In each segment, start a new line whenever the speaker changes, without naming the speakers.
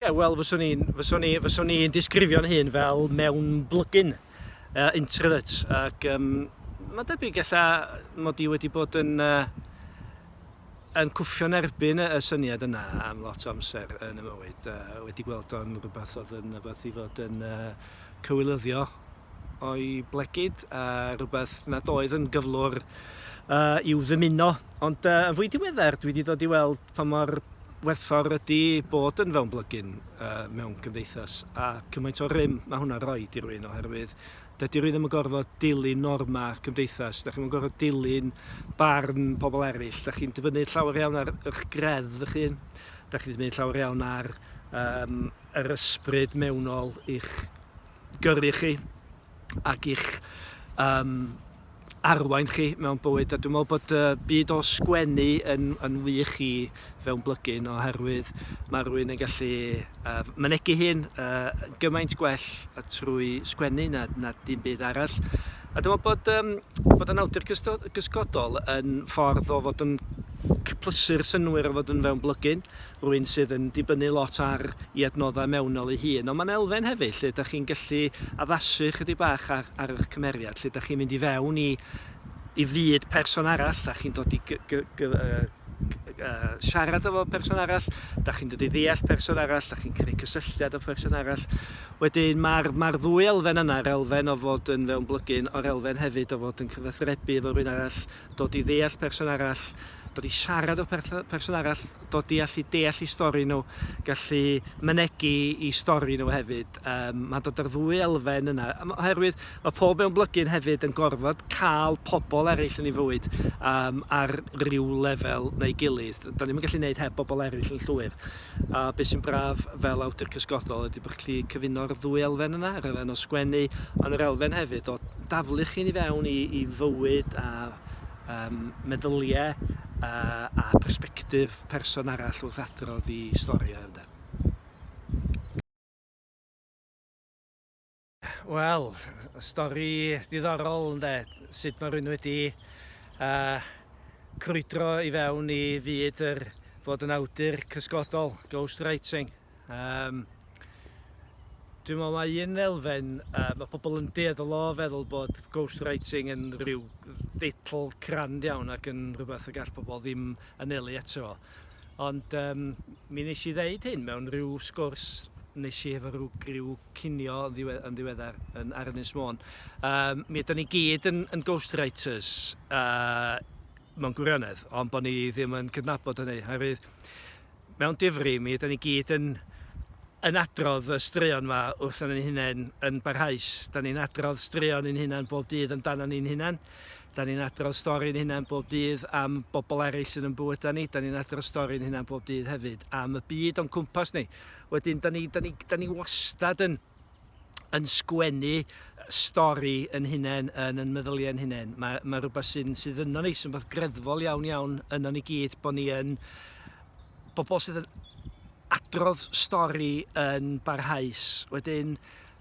Ie, wel, fyswn i'n fyswn i, fyswn i'n disgrifio'n hun fel mewn blygyn uh, introvert ac um, mae'n debyg ella mod i wedi bod yn uh, yn cwffio'n erbyn y syniad yna am lot o amser yn y mywyd. Uh, wedi gweld o'n rhywbeth oedd yn rhywbeth i fod yn uh, cywilyddio o'i blegid, a rhywbeth nad oedd yn gyflwr uh, i'w ddymuno. Ond uh, yn fwy diweddar, dwi wedi dod i weld pa mor werthfawr ydy bod yn fewn blygyn uh, mewn cymdeithas a cymaint o rym mae hwnna'n rhoi i rwy'n oherwydd dydy rwy'n ddim yn gorfod dilyn norma cymdeithas, da chi'n gorfod dilyn barn pobl eraill, da chi'n dibynnu llawer iawn ar eich gredd ych hun, da chi'n dibynnu llawer iawn ar um, yr ysbryd mewnol i'ch gyrru chi ac i'ch um, arwain chi mewn bywyd a dwi'n meddwl bod y byd o sgwennu yn, yn wych i fewn blygyn oherwydd mae rhywun yn gallu uh, mynegu hyn uh, gymaint gwell trwy sgwennu na, na dim byd arall a dwi'n meddwl bod, um, bod yn awdur gysgodol yn ffordd o fod yn cyplysu'r synwyr o fod yn fewn blygyn rhywun sydd yn dibynnu lot ar ei adnoddau mewnol ei hun, ond mae'n elfen hefyd lle ydych chi'n gallu addasu ychydig bach ar ar eich cymeriad, lle ydych chi'n mynd i fewn i i fyd person arall, dach chi'n dod i gy- gy- gy- yy gy- yy siarad efo person arall, dach chi'n dod i ddeall person arall, dach chi'n creu cysylltiad â pherson arall. Wedyn mae'r mae'r ddwy elfen yna, yr elfen o fod yn fewnblygun, o'r elfen hefyd o fod yn cyfathrebu efo rhywun arall, dod i ddeall person arall, dod i siarad â person arall, dod i allu deall eu stori nhw, gallu mynegi eu stori nhw hefyd. Yym, mae'n dod â'r ddwy elfen yna, oherwydd mae pob mewn blygyn hefyd yn gorfod cael pobl eraill yn ei fywyd um, ar ryw lefel neu gilydd. Da ni'n gallu gwneud heb bobl eraill yn llwyr. A be sy'n braf fel awdur cysgodol ydy bod chi'n gallu cyfuno'r ddwy elfen yna, yr elfen o sgwennu, ond yr elfen hefyd o daflu chi'n i fewn i, i fywyd a um, meddyliau a, a perspektif person arall wrth adrodd i stori o, ynde? Wel, stori ddiddorol ynde, sut mae rhywun wedi uh, crwydro i fewn i fyd yr fod yn awdur cysgodol, ghostwriting. Um, Dwi'n meddwl mae un elfen, uh, mae pobl yn dueddol o feddwl bod ghostwriting yn rhyw ddeitl crand iawn ac yn rhywbeth y gall pobl ddim anelu eto fo. Ond yym mi nesh i ddeud hyn mewn rhyw sgwrs nesh i efo rhyw griw cinio yn ddiwe- yn ddiweddar yn ar Ynys Môn. Yym mi ydan ni gyd yn yn ghostwriters yy mewn gwirionedd ond bo' ni ddim yn cydnabod hynny oherwydd mewn difri mi ydan ni gyd yn yn adrodd y straeon 'ma wrthon ni'n hunain yn barhaus. 'Dan ni'n adrodd straeon i'n hunan bob dydd amdanon ni'n hunan. 'Da ni'n adrodd stori'n hunain bob dydd am bobl eraill sydd o'n bywydau ni. 'Da ni'n adrodd stori'n hunain bob dydd hefyd am y byd o'n cwmpas ni. Wedyn, 'da ni, 'da ni, 'da ni wastad yn, yn sgwennu stori yn hunain, yn yn meddyliau yn hunain. Mae, mae rhywbeth sy'n, sydd yno ni, sy'n fath greddfol iawn iawn yno ni gyd, bod ni yn bobl sydd yn adrodd stori yn barhaus. Wedyn,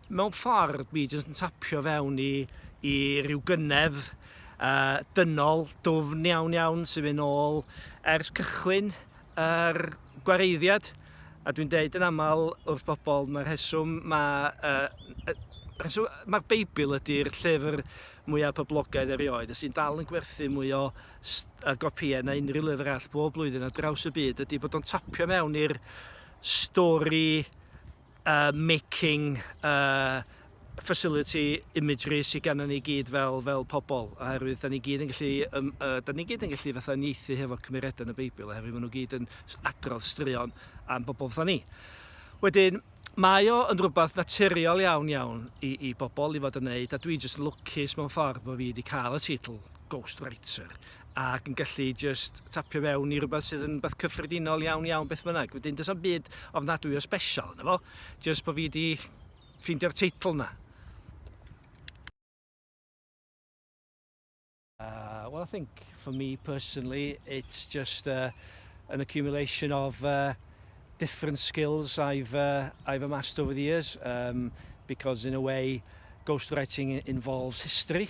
Mewn ffordd, dwi jyst yn tapio fewn i i ryw gyngerdd uh, dynol, dwfn iawn iawn sy'n mynd ôl ers cychwyn yr gwareiddiad. A dwi'n deud yn aml wrth bobl, mae'r rheswm mae... Uh, rheswm, mae'r Beibl ydy'r llyfr mwyaf poblogaidd erioed, a sy'n dal yn gwerthu mwy o gopïau na unrhyw lyfr all bob blwyddyn ar draws y byd, ydy bod o'n tapio mewn i'r stori uh, making uh, facility imagery sydd gennym ni gyd fel, fel pobl, oherwydd da ni gyd yn gallu, um, uh, da ni gyd yn gallu fatha nieithu hefo cymeriadau yn y Beibl, oherwydd maen nhw gyd yn adrodd straeon am bobl fatha ni. Wedyn, mae o yn rhywbeth naturiol iawn iawn i, i bobl i fod yn neud, a dwi jyst yn lwcus mewn ffordd bod fi wedi cael y teitl Ghostwriter, ac yn gallu jyst tapio fewn i rywbeth sydd yn beth cyffredinol iawn iawn beth bynnag. Wedyn does am byd ofnadwy o special yna fo, jyst bod fi wedi ffeindio'r teitl yna. Uh, well, I think for me personally, it's just uh, an accumulation of uh, different skills I've uh, I've amassed over the years. Um, because in a way, ghostwriting involves history.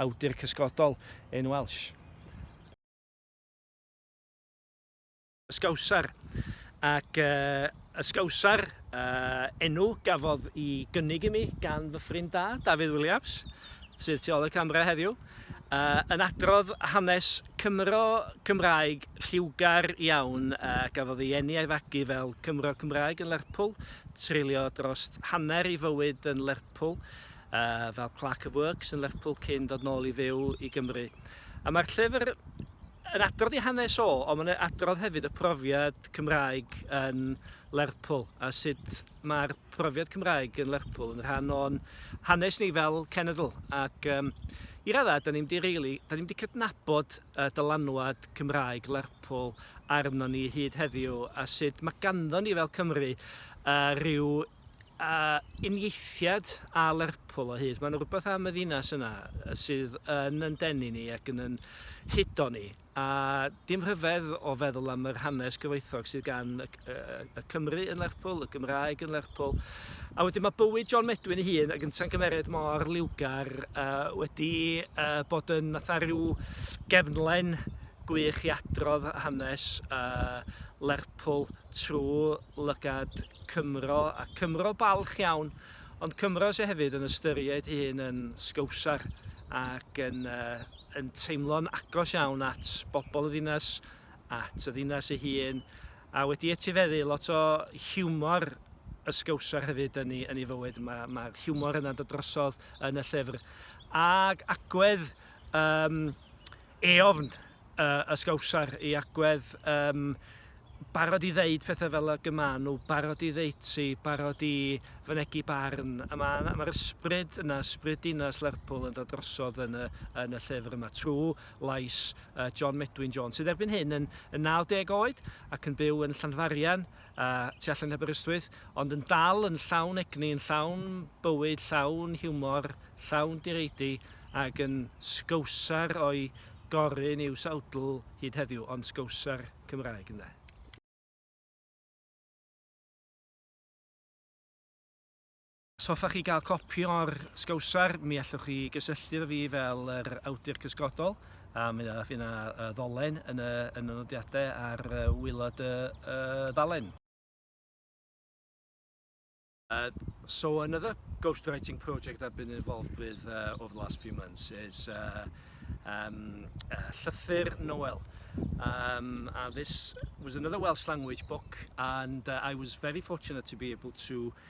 awdur cysgodol yn Welsh. Ysgawsar, ac Ysgawsar, enw gafodd i gynnig i mi gan fy ffrind da, Dafydd Williams, sydd tu ôl y camera heddiw, yn adrodd hanes Cymro Cymraeg lliwgar iawn a gafodd ei eni a'i fagu fel Cymro Cymraeg yn Lerpwl, treulio dros hanner ei fywyd yn Lerpwl, fel Clerk of Works yn Lerpwl cyn dod nôl i fyw i Gymru. A mae'r llyfr yn adrodd ei hanes o, ond mae'n adrodd hefyd y profiad Cymraeg yn Lerpwl a sut mae'r profiad Cymraeg yn Lerpwl yn rhan o'n hanes ni fel cenedl. Ac um, i raddau, da ni'n di, really, da ni'n di cydnabod uh, dylanwad Cymraeg Lerpwl arno ni hyd heddiw a sut mae ganddo ni fel Cymru uh, rhyw A uniaethiad a Lerpwl o hyd. Mae'n rhywbeth am y ddinas yna sydd yn yn denu ni ac yn yn hudo ni. A dim rhyfedd o feddwl am yr hanes gyfoethog sydd gan y, y, y Cymru yn Lerpwl, y Gymraeg yn Lerpwl. A wedyn mae bywyd John Medwyn ei hun, ac yn tangymeriad mor liwgar, uh, wedi uh, bod yn fatha rhyw gefnlen gwych i adrodd hanes uh, Lerpwl trwy lygad Cymro a Cymro balch iawn ond Cymro sy hefyd yn ystyried ei hun yn Sgowsar ac yn yn teimlo'n agos iawn at bobl y ddinas, at y ddinas ei hun a wedi etifeddu lot o hiwmor y Sgowsar hefyd yn ei yn ei fywyd. Mae mae'r hiwmor yna'n dod drosodd yn y llyfr ag agwedd yym eofn y, y sgawsar i agwedd, um, barod i ddeud pethau fel y gymaen nhw, barod i ddeutsi, barod i fynegu barn. A mae'r ma, ysbryd yna, ysbryd dinas Lerpwl yn dod drosodd yn y, yn y llyfr yma, trwy lais uh, John Medwyn Jones, sydd erbyn hyn yn, yn 90 oed ac yn byw yn Llanfarian y tu allan heb Aberystwyth, ond yn dal yn llawn egni, yn llawn bywyd, llawn hiwmor, llawn direidi, ac yn Scowser o'i gorun i'w sawdl hyd heddiw, ond Scowser Cymraeg, ynde. Os hoffech chi gael copi o'r sgowsar, mi allwch chi gysylltu efo fi fel yr awdur cysgodol, a mi fydd yna ddolen yn y yn y nodiadau ar waelod y y ddalen. So another ghost writing project I've been involved with over the last few months is Llythyr Noel and this was another Welsh language book and I was very fortunate to be able to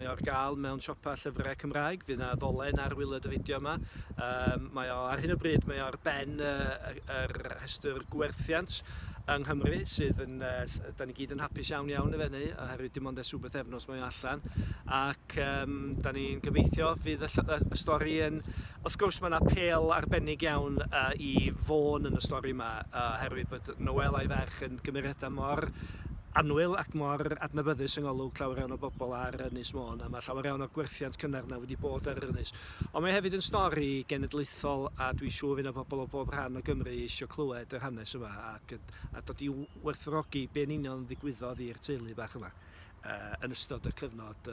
Mae o ar gael mewn siopa llyfrau Cymraeg. Fydd 'na ddolen ar wylod y fideo yma. Um, mae o, ar hyn o bryd, mae o ar ben y, y, rhestr gwerthiant yng Nghymru sydd yn, uh, da ni gyd yn hapus iawn iawn efo hynny, oherwydd dim ond ers rhywbeth efnos mae o allan. Ac um, da ni'n gobeithio fydd y, y, y stori yn... Wrth gwrs mae yna pel arbennig iawn uh, i fôn yn y stori yma, uh, oherwydd bod Noel a'i ferch yn gymeriadau mor annwyl ac mor adnabyddus yng ngolwg llawer iawn o bobl ar Ynys Môn, a mae llawer iawn o gwerthiant cynnar 'na wedi bod ar yr ynys. Ond mae hefyd yn stori genedlaethol a dwi'n siŵr fydd 'na bobl o bob rhan o Gymru isio clywed yr hanes yma ac a dod i werthfawrogi be yn union ddigwyddodd i'r teulu bach yma yn ystod y cyfnod